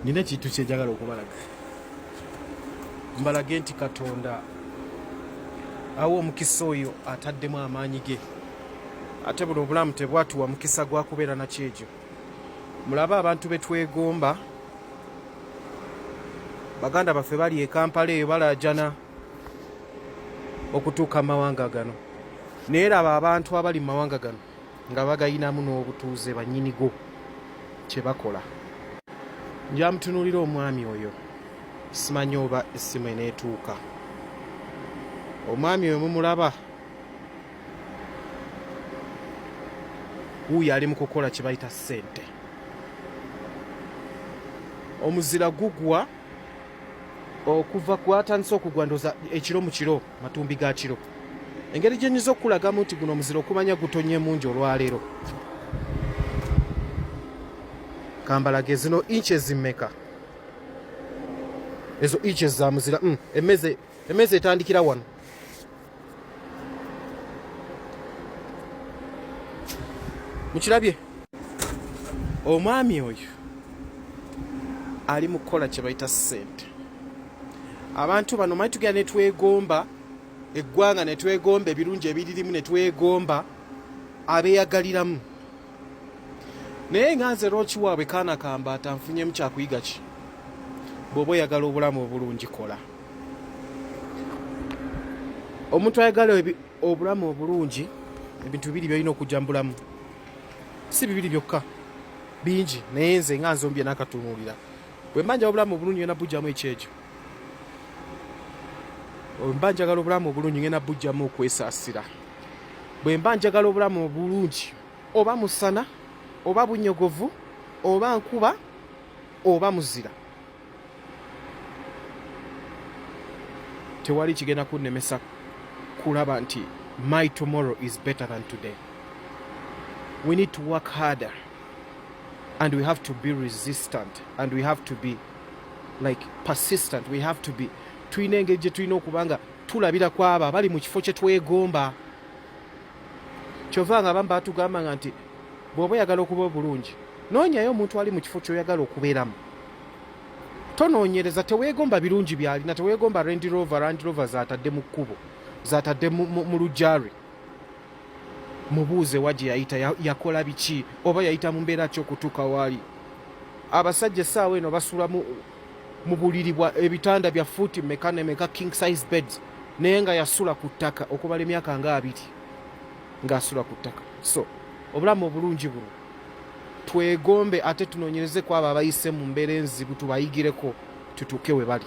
nina ekintu kyenjagala okubalaga mbalage nti katonda awa omukisa oyo ataddemu amaanyi ge ate buno obulamu tebwatuwa mukisa gwa kubeera nakyejo mulabe abantu betwegomba baganda baffe bali ekampala eyo balajana okutuuka mu mawanga gano naye laba abantu abali mu mawanga gano nga bagayinamu n'obutuuze banyinigo kye bakola njamutunulira omwami oyo simanyi oba essimu eneetuuka omwami oyo mumulaba wuuyo ali mu kukola kye bayita ssente omuzira gugwa okuva kwatandise okugwa ndoza ekiro mu kiro matumbi ga kiro engeri gye nyinza okukulagamu nti guno omuzira okumanya gutonye mungi olwaleero kambalage zino inchi ezimmeka ezo inchi ezamuzira mm, emeze emeze etandikira wano mukirabye omwami oyo ali mu kukola kye bayita ssente abantu bano manyi tugenda netwegomba eggwanga netwegomba ebirungi ebiririmu netwegomba abeyagaliramu naye nga nze lwoki waabwe kaana kambaata nfunyemu kyakuyiga ki bwoba oyagala obulamu obulungi kola omuntu ayagala obulamu obulungi ebintu bibiri byolina okujja mu bulamu si bibiri byokka bingi naye nze nga nze omu bye nakatunuulira bwemba njagala obulamu obulungi ngenda bujjamu ekyejo bwemba njagala obulamu obulungi ngenda bujjamu okwesasira bwemba njagala obulamu obulungi oba musana oba bunyogovu oba nkuba oba muzira tewali kigenda kunnemesa kulaba nti my tomorrow is better than today we need to work harder and we have to be resistant and we have to be like persistent we have to be tulina engeri gye tulina okuba nga tulabira ku abo abali mu kifo kye twegomba kyova nga abamu batugamba nga nti bw'oba oyagala okuba obulungi noonyayo omuntu ali mu kifo kyoyagala okubeeramu tonoonyereza teweegomba birungi byalina teweegomba rendi rover randi rover zatadde mu kkubo zatadde mu lujjari mubuuze wa gye yayita yakola biki oba yayita mu mbeera ki okutuuka waali abasajja essaawa eno basula mu buliri bwa ebitanda bya fuuti meka ne meka king size beds naye nga yasula ku ttaka okubala emyaka nga abiri ng'asula ku ttaka so obulamu obulungi buno twegombe ate tunoonyereze ku abo abayise mu mbeera enzibu tubayigireko tutuuke we bali